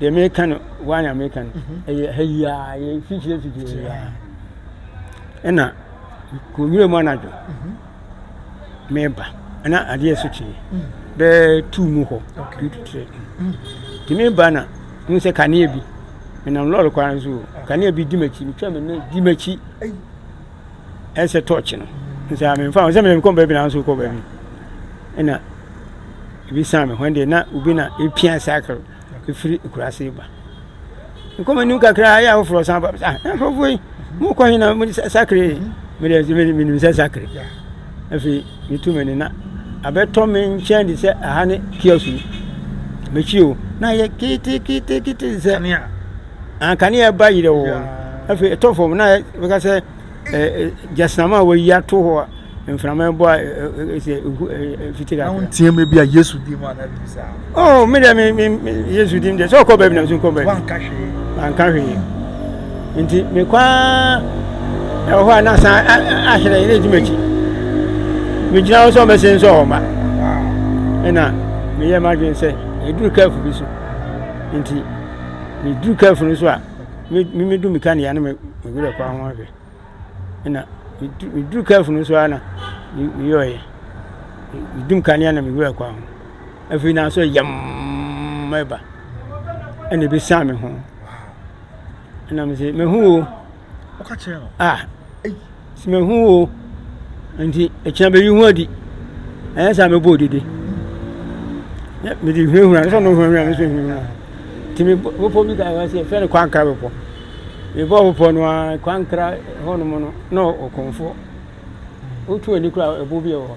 deɛ meka no waa na meka no mhm. ɛyɛ ha yi a yɛ fikyire fikyire yi a ɛna kɔwura mu anadwo mhm. meba ɛna adeɛ so kyee mhm. bɛɛ tuu mu hɔ tututrɛ nti meba na mu sɛ kanea bi menam lɔre kwan so kanea bi di m'akyi metwa me ne di m'akyi ɛnsɛ tɔɔkye no nsɛ a memfa ho sɛ mekɔ baabi na nso kɔ baabi ɛna ebi san me hɔ deɛ na obi na epia sakre efiri kurase ba nkɔmɔ nim kakra ayɛ ahoforɔ san ba ah nkurɔfoɔ yi mo kɔ hin na mo sakre me deɛ me me nim sɛ sakre afei metu me ne na abɛtɔ me nkyɛn de sɛ aha ne kiosk mekyiri o na yɛ kete kete kete sɛ Ah, kanea ba yerɛ wɔ hɔ. Afei ɛtɔ fam na bɛka sɛ gyasram a wɔyi ato hɔ a mframa ɛbɔ a ɛsɛ fiti kakra. Ahun tiɛ mi bi a Yesu di mu anabi sa. Oh, mi dɛ mi mi Yesu di mu dɛ sɛ ɔkɔ baabi na mi so nkɔ baabi. Wanka hwee. Wanka hwee. Nti mi kɔ aa ɛwɔ hɔ a na san ahyerɛ yɛ na edi m'akyi. Mi gyina hɔ sɛ ɔmɛsɛ nsɛ ɔma. Ɛna mi yɛ m'adwene sɛ eduru kɛɛfo bi so. Nti. Medur kaafo no so a, me me medu me kanea no me me werɛ kɔ ho ahwɛ. Ɛnna medu medur kaafo no so ara na me meyɔeɛ. Medum kanea na me werɛ kɔ ho. Afei na sɛ yɛmm ɛba ɛnna ebesian me ho. Ɛnna mese, mehu o. Ɔka kyerɛɛ no. A, ei, sɛ mehu wo o, nti ɛkyina bɛyi ho adi. Ɛnyɛ saa mɛbɔ odidi. Mede hunahuna, sɛ ɔno hunahuna, me so hunahuna. Nti me bepɔ bi ka ɛwɔ sɛ yɛfrɛ no kwankra bepɔ. Mebɔ bepɔ no a kwankra hɔnom no na ɔkɔmfo. Wotu ani kora ɛbo bi wɔ hɔ.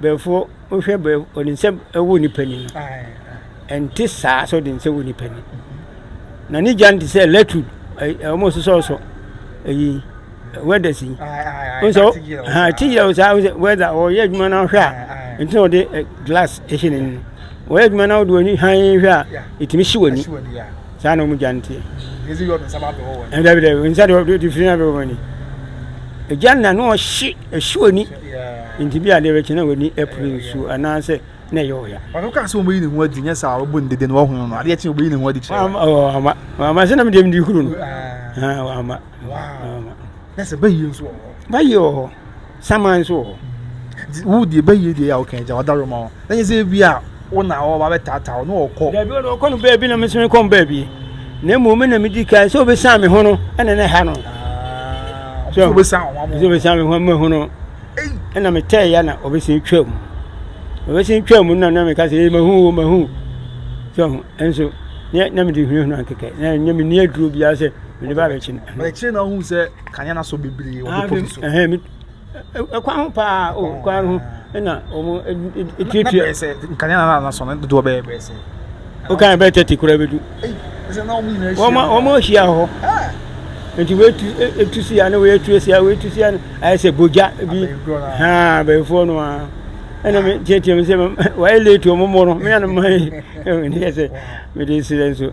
Brɛfoɔ wohwɛ brɛ ɔde nsa wɔ nipa ni ɛnte saa sɛ ɔde nsa wɔ nipa ni na ne gya no te sɛ electric wɔn sosɔ so ɛyi wɛda si nso ha ti yɛ o saa wɛda ɔyɛ adwuma na ɔhwɛ a nti na ɔde glass ɛhyɛ n'ani ɔyɛ adwuma na ɔde wɔn ani han hwɛ a ɛtumi si wɔn ani saa na wɔn gya no teɛ ɛdɛbi dɛbi nsa de ɔde firi na bɛ wɔn ani gya na no ɔhye Ɛhye w'ani nti bi adeɛ bɛkyɛ na w'ani apue nsuo anaasɛ na ɛyɛ ɔya. Ɔno kaa sɛ wɔbɛyi ne ho adi nyɛ saa wɔbu no dede na wɔhono no adeɛ kye wɔbɛyi ne ho adi kyerɛ. Wama ɔɔ ama wama sɛ nam deɛ mdi kuro no. Ha wama. Wama. Na sɛ bɛyie nso wɔ hɔ. Bɛyie wɔ hɔ. Saman nso wɔ hɔ. Wo deɛ bɛyie deɛ yɛ a woka agya wadaro ma wo. Na nyɛ sɛ ebia wo na ɔreba abɛtaataa wo, na ɔkɔ. Dabi, ɔno ɔkɔ no baabi na me nso mekɔ me baabi. Na mmom me na medi kan sɛ obesan me ho no ɛna na ɛha no. Ah, so obesan ho amu. So obesan me ho amu ho no. Ɛna metɛɛ ya na obesan twa mu. Obesan twa mu na na meka sɛ ee mahu o mahu. So nso na na mede hunahuna nkekɛ na nyɛ me ni aduro biara sɛ mede ba abɛkyi no. Ɛkyerɛ na ohun sɛ kanya na so bebree wɔ bepɔ bi so. Ɛkwan ho paa o ɛkwan ho ɛna wɔn ɛtuatua. Na bɛyɛ sɛ nkanea na na sɔn ne dodoɔ bɛyɛ bɛyɛ sɛ. O kan bɛyɛ tɛti kura bɛ du. Ɛsɛ na wɔn nyinaa hyia. Wɔn wɔn hyia hɔ. Nti wei tu etu si ya ne wei etu si ya wei etu si ya ayɛ sɛ bogya bi haa bɛyifoɔ no a ɛna mi tiatia mi sɛ wɔayɛ late wɔn mo no mi anam ayɛ ɛna mi yɛ sɛ mi de srɛ nso.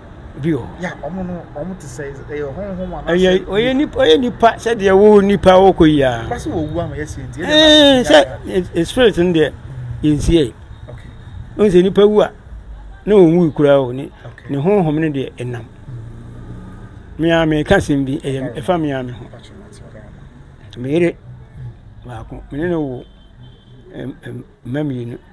bio. Ɛyɛ ɔyɛ nipa ɔyɛ nipa sɛdeɛ wo nipa wo kɔ yi ara. Ɛɛ sɛ spirit no deɛ yɛnsie yi. Wohu sɛ nipa wu a na ɔnwui koraa o ne ne honhom no deɛ ɛnam. Mea meka asɛm bi ɛyɛ ɛfa mea me ho. Meyere baako mene no wo mma mmienu.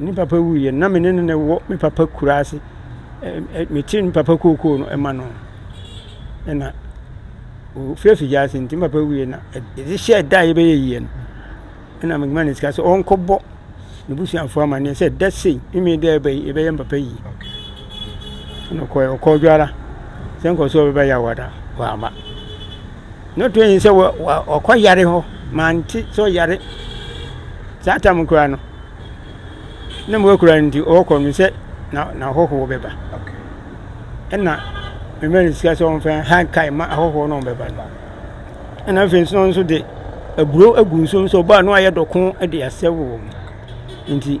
Ne papa wuiɛ na me ne no na ɛwɔ me papa kura ase metee me papa kookoo no ɛma no ɛna ɔfiri afigya ase nti me papa wuiɛ na ɛde hyɛ ɛda a yɛbɛyɛ yie no ɛna mema no sika sɛ ɔnkɔbɔ ne busuafoɔ amanneɛ sɛ da sei meme dɛ ɛbɛyɛ me papa yie Ɛna ɔkɔɛ, ɔkɔɔ dwara sɛ nkɔ sɛ ɔbɛbɛ yɛ awada wama. Na ɔtɔ yi sɛ ɔkɔ yare hɔ mante sɛ ɔyare saa tam koraa no na mu akura nti ɔkɔ no sɛ na na ahɔhoɔ bɛba. Ɛna mmɛn sika sɛ ɔmfɛn ha kae ma ahɔhoɔ no ɔbɛba no. Ɛna afei nso nso de aburo agu nsuo nso ɔbaa no ayɛ dɔko de asɛ wɔ mu. Nti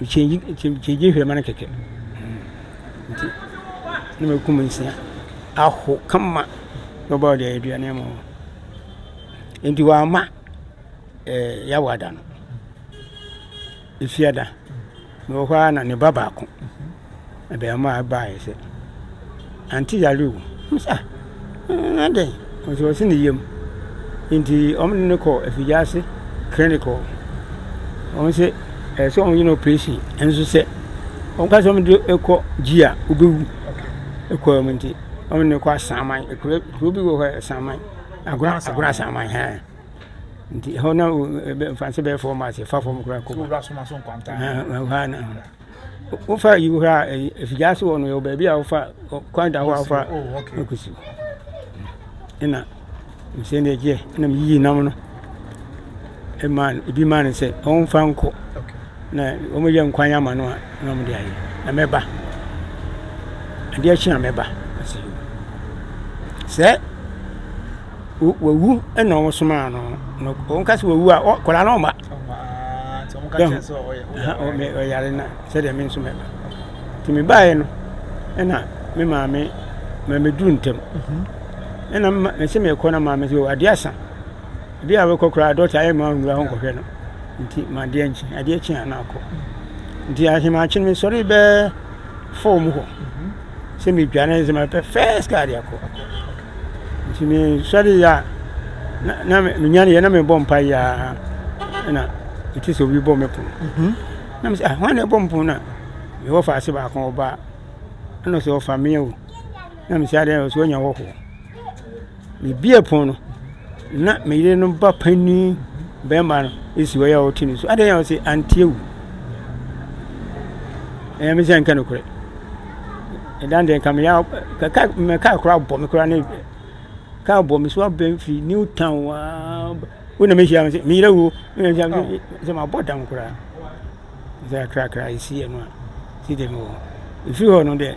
Mekyɛngye mekyɛngye hwɛma no kɛkɛ nti na makum nsia ahow kama na ɔbaa ɔde aduane ama wɔn nti wɔamma ɛɛ Yawa da no. Efia da, mewɔ hɔ ara na ne ba baako. abarimaa yi baeɛ sɛ, Ante yare o. Ɔmo se ah, na dɛn? Ɔmo se ɔse ne yam. Nti ɔmo de no kɔɔ Afigyase klinik hɔ. Ɔmo se ɛsɛ sɛ ɔmo yɛ no oprehyɛn nso sɛ ɔmo ka sɛ ɔmo de kɔ gyi a obewu. Ɛkɔɔ mu nti ɔmo de no kɔ Asaman, kuro kuro bi wɔ hɔ Asaman, Agona Agona Asaman hɛn. Nti ɛhɔ na mframa bɛyɛ fɔɔ mas, ɛfa fɔm koraa kɔ. Ɛhɔ a na. wofa yi hɔ a ɛfitaa so hɔ no yɛwɔ baabi a wofa kwan da hɔ a wofa kusi ɛna mesɛ ne agyeɛ ɛna meyiyi nam no ɛma ebi ma no sɛ ɔmfa nkɔ na wɔyɛ nkwan ama no a na wɔde ayɛ na mɛba adeɛ kye a mɛba sɛ wawu na wɔn somaa no na wɔn ka sɛ wawu a kɔla no ɔma ɔyare na sɛdeɛ me nso mɛba nti mebaeɛ no ɛna me maame ma meduru ntɛm ɛna mese mekɔ na maame sɛ adeɛ asa bi a wekɔ koraa dɔkta ayɛ ma nwura hɔ nkɔhwɛ no nti ma adeɛ nkye adeɛ kye a na akɔ nti ahemaakye no mesɔre bɛɛ fɔɔ mu hɔ sɛ metwa na ɛsɛ sɛ mepɛ first car de akɔ nti mesɔreeɛ a na menyaneeɛ na mebɔ mpaeɛ a ɛna ɛte sɛ obi bɔ me pono mhm. na mesɛ hwan na ɛbɔ me pono no a mewɔ fa ase baako ɔbaa ɛna sɛ ɔfa meɛ o na mesɛ adeɛ sɛ wanya hɔhoɔ Mibuee pon no, na me yere no ba panyin barima no si hɔ a ɔte ne so. Adɛn na ɔse anteɛ wu? Ɛyɛ me sɛ nka nokorɛ. Ɛdan deɛ nka meyɛ kaka me kaa koraa bɔ me koraa ne kaa bɔ me so abɛn firi new town waa wo na mehyia me sɛ meyerɛ wuo sɛ mabɔ dam koraa dze akrakra esi hɛn a yɛdze gye no wɔ ho. Efi hɔ no dɛ,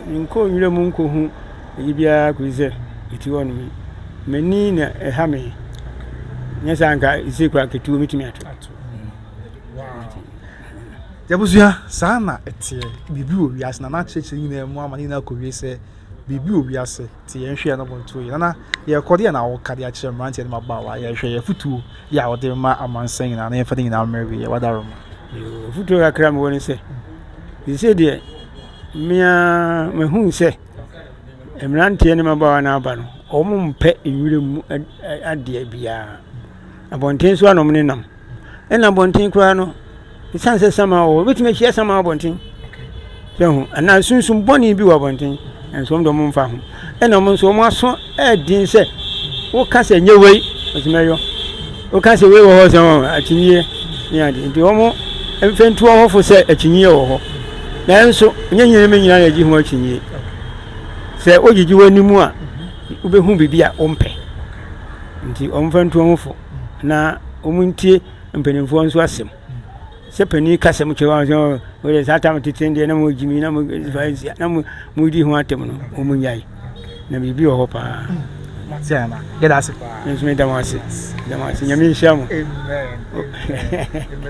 mennkɔɔ nwura mu nnkohu adze biara kodzi dɛ etse hɔ no m'enyi na ɛha me. Nnyɛ saa a nka etse koraa nka etuo metumi ato. Yɛabusua, saa na ɛteɛ. Biribi wɔ wiase na n'akyerɛkyerɛ nyinaa mu ama ne nyinaa kɔwie sɛ biribi wɔ wiase. Nti yɛnhwɛ na wɔntuo yɛn. Nana, deɛ ɛkɔ deɛ na woka de akyerɛ mmeranteɛ ne mmabaawa yɛhwɛ yɛ afotuo yɛ a wɔde ma amansan nyinaa na yɛmfa ne nyinaa mmere wieɛ wadaro ma. Afotuo kakra mewɔ ne sɛ sɛ deɛ mmea mahu sɛ mmeranteɛ ne mmabaawa no aba no wɔn mpɛ nwura mu adeɛ biara Abɔnten so anom ne nam. Ɛna abɔnten koraa no, ɛsiane sɛ sama wɔ hɔ, wobɛtumi ahyia sama abɔnten. Sɛ ho, anaa sunsum bɔne bi wɔ abɔnten, nso wɔn de wɔn mfa ho. Ɛna wɔn nso wɔn aso ɛɛden sɛ, woka sɛ nyɛ wei, wɔtumi ɛyɔ. Woka sɛ wei wɔ hɔ sɛ wɔn akyinyeɛ ne ade. Nti wɔn mfɛntu wɔ hɔfo sɛ akyinyeɛ wɔ hɔ. Nanso, nyɛ nyina me nyina na ɛgye ho akyinyeɛ. Sɛ wogyegye w'anim a, wobɛhu biribi a wompɛ. Nti wɔmfa ntu wɔn ho fo na wɔntie mpanimfoɔ nso asɛm. Sɛ panin ka sɛ motwe wɔn sɛ wɔde saa tam tete deɛ na mogye mi na mofasia na modi ho atɛm no wɔn nyae na biribi wɔ hɔ paa. Yɛda ase paa. Nso meda mo ase. Meda mo ase. Nyame nhyira mo.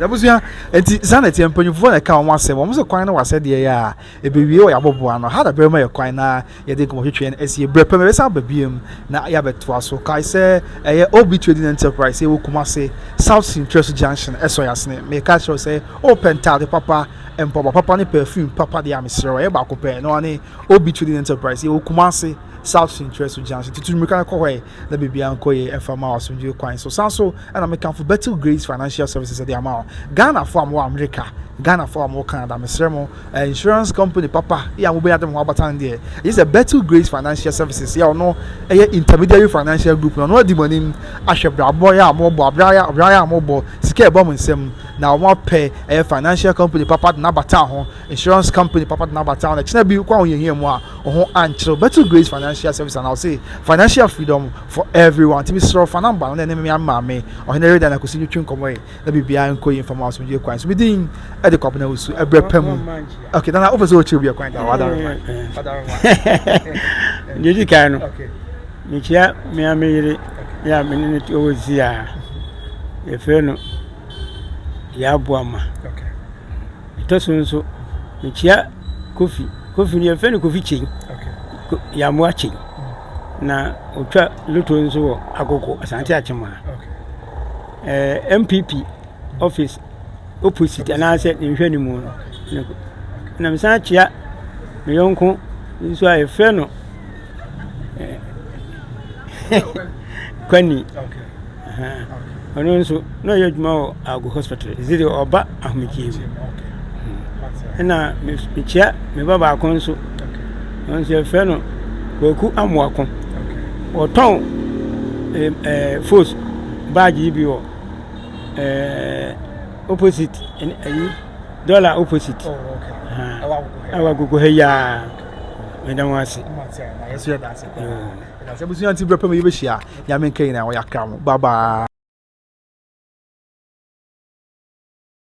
Abusua nti saa na ɛteɛ mpanyinfoɔ na ɛka wɔn asɛm wɔn sɛ kwan no wɔ asɛdeɛ yɛ a ɛbɛwie wɔ yɛabɔboa no ha na bɛrima yɛ kwan na Yɛde nkɔmmɔtwetwe no asie. Berɛ pa mu yɛbɛsan aba biom na yɛabɛtoa so. Kae sɛ ɛyɛ OB Trading Enterprise, yɛwɔ Kumasi, South Sintweso Junction, Ɛsɔyasene. Meka kyerɛ wo sɛ wopɛ ntaade papa, mpaboa papa ne perfume papa deɛ a mesrɛ wo, ɛyɛ baako pɛ, ɛno ara ne OB Trading Enterprise. Yɛwɔ Kumasi, South Sintweso Junction. Tutu mmirika na kɔ hɔ ɛ! na biribiara nkɔ yie ɛfa ma wo asomdwoeɛ kwan so. San so na mekamfo Betel Grace Financial Services de ama wo. Ghanafoɔ a mowɔ Amerika, Ghanafoɔ a mowɔ Canada, mesrɛ mo, eh, insurance company papa yɛ a mobɛnya de mo ho abatan deɛ, ɛgye sɛ Betel Grace Financial Services yɛ ɔno ɛyɛ intermediary financial group no, ɔno adi mo anim ahwɛ brabɔ yɛ a mobɔ, abrayɛ a mobɔ, sika ɛbɔ mo nsam, na wɔn apɛ ɛyɛ financial company papa de no abata ho. Insurance company papa tena aba town na kyena bi wokɔ ahohiahia mu a wo ho ankyerɛ Betel Grace Financial Service ana ɔse financial freedom for everyone ti mesrɛ fa namba no na ɛne me maame ɔhene reda na kɔsi ntwitwi nkɔmmɔ yi na biribiara nkɔ yi mfama asomdwe kwan so bi din ɛde kɔ abena wusu ɛbrɛ pa mu ok nana wofɛ sɛ wɔkyerɛ obi ɛkwan da wadare deɛ di kan no mekyia mea me yere yɛ a mene no ɛwɔ zia yɛfrɛ no yɛaboa ma okay. Ɛtɔ so nso, mekyia Kofi. Kofi no yɛfrɛ no Kofi Kyei. Ko- Yɛamoa Kyei. Na ɔtwa loto nso wɔ Agogo, Asante Akyem ha. Eh, MPP office opposite anaasɛ ne nhwɛ no mu no. ne ko- Na mesan kyia me yɔnko nso a yɛfrɛ no eh, Kwani. Ɔno nso na ɔyɛ adwuma wɔ Agu hospital ɛsɛ deɛ ɔba ahomegyeɛ mu ɛna mekyia me ba baako nso ɔno nso yɛfrɛ no Kwaku Amoako ɔtɔn ɛɛ fos baagye yi bi wɔ ɛɛ opposite ɛyi dɔla opposite ɛwɔ agogo ha yi ara meda mo ase. Na sɛ abusua nti berɛ pɛ mu yɛbɛhyia a, Nyame nka nyinaa wɔyɛ akra mo. Bye bye.